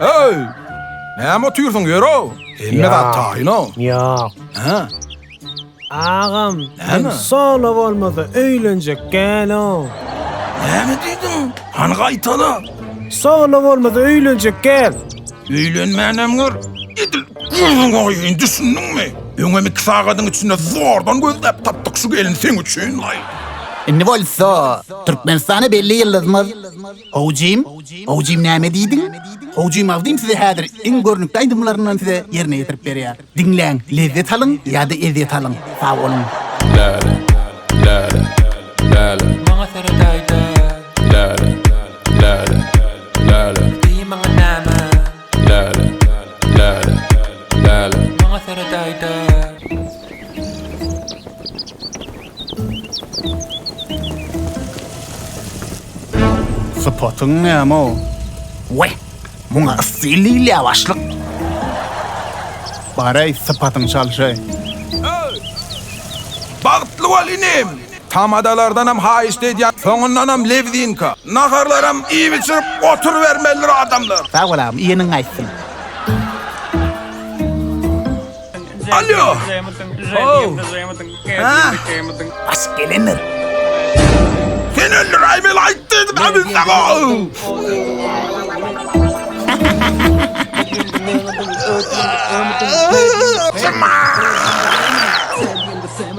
Heý! Näme otyrsyň, ýöre! Hemme zat taýyn-a. Ýok. Hä? Agam, men sola bolmasa öýlenjek däl-o. Näme diýdiň? Hany gaýtala! Sola bolmasa öýlenjek däl. Öýlenmänem gör. Edil gözüňe goýaýyn, düşündiňmi? Öňem iki sagadyň içinde zordan gözläp tapdyk şu gelni seň üçin-laý. Indi bolsa Türkmenistana belli ýyldyzymyz. Howjym, howjym näme diýdiň? Howjym Abdym size häzir iň görnükli aýdymlaryndan size ýerine ýetirip berýär. Diňläň, lezzet alyň ýa-da ezýet alyň. Sag boluň. Läle, läle, läle. Maňa seredäýde. Läle, läle, läle. Diý maňa näme? Läle, läle, läle. Maňa seredaýda. Sypatyň näme o? We, muňa yssy lilýa başlyk. Bareý, sypatyň çalşaý. Bagtly bol inim! Tamadalardanam haýyşt edýän, soňundanam lewzinka. Naharlaram iýip-içirip oturybermelidir adamlar. Sag bol agam, iýeniň gaýtsyn. Alýo! How! Hä? Asyp gelendir. Sen öldür Aýmel aýt diýdi Dabilde go!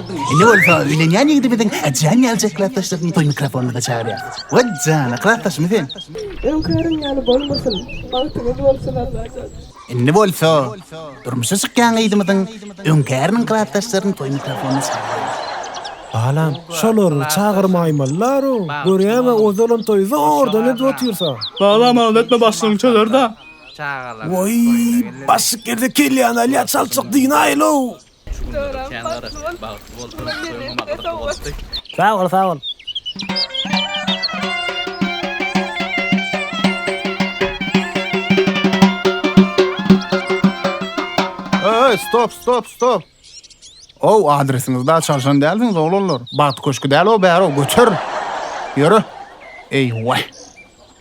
Indi bolsa öýlenýän ýigidi biziň Jan ýalyjak klasdaşlaryň toý mikrofonyna-da çagyrýarys. Wah jana, klasdaşmy sen? Öňkäriň ýaly bolmasyn, bagtyňyz bolsun Allajan! Indi bolsa durmuşa çykýan gyzymyzyň öňkäriniň klasdaşlaryny toý mikrofonyna çagyrýarys. Balam, şolary çagyrmaýmalylar-ow, görýäň-ä ozalam toýy zordan edip otyrsa. Balam, alada etme başlygyň çözer-dä. Woý, başlyk ýerde kelýäni alýar çalçak dynayl-ow! Şu günler kän garaşýan bagtly bolsun öňe magatly bolsun. Sag bol sag bol. Öy stop stop stop. Ow adresiňiz da çalşan dälsiňiz oglanlar. Bagt köşki däl o bäro göçer. Ýöre. Eý way.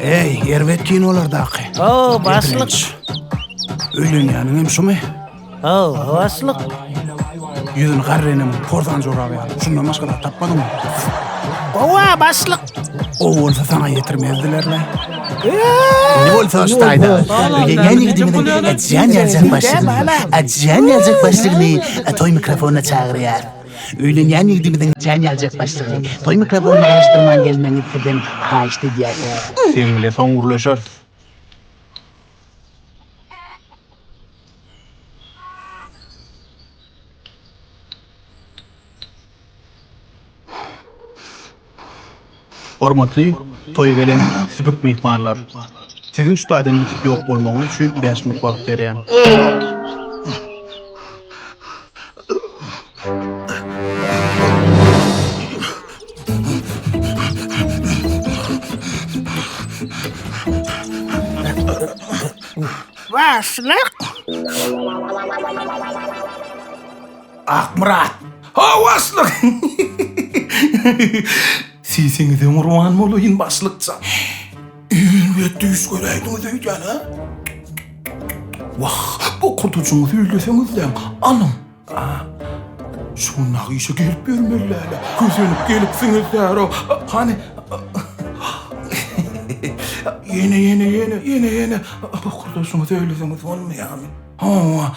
Eý, erbet kin olardaky. O, başlyk. Öýlenýäniň hem şumy? O, başlyk. Ýüzüni garrenem porzan jorap ýaly. Şundan başga zat tapmadyňmy? Owa, başlyk. O bolsa sana ýetirmezdiler-le. Ne bolsa ştaýda. Öýlenýän ýigidimiň äjän ýaljak başlygyny, äjän ýaljak başlygyny toý mikrofonyna çagyrýar. Öýlenýän ýigidiňiziň çaýyny ýaljak başlygy, toý mikrofonyny garaşdyrman gelmegiňizi sizden haýyşt edýäris. Seň bile soň gürleşeris. Hormatly toýa gelen süpük myhmanlar! Siziň şu taýdan ýitip ýok bolmagyňyz üçin bäş minut wagt berýän. Başlyk! Akmyrat. Ha başlyk. Sesiňize gurban bolaýyn başlykjan. Elbet düýş göräýdiňiz öýdýän ha. Wah, bokurdajyňyzy öýleseňizläň, alyň. A. Şu gün nagyşa gelip ýörmeliläle. Kösenip gelipsiňiz däro. Hany. Ýene, ýene, ýene, ýene, ýene. Bokurdajyňyzy öýleseňiz bolmaýamy? Hawa.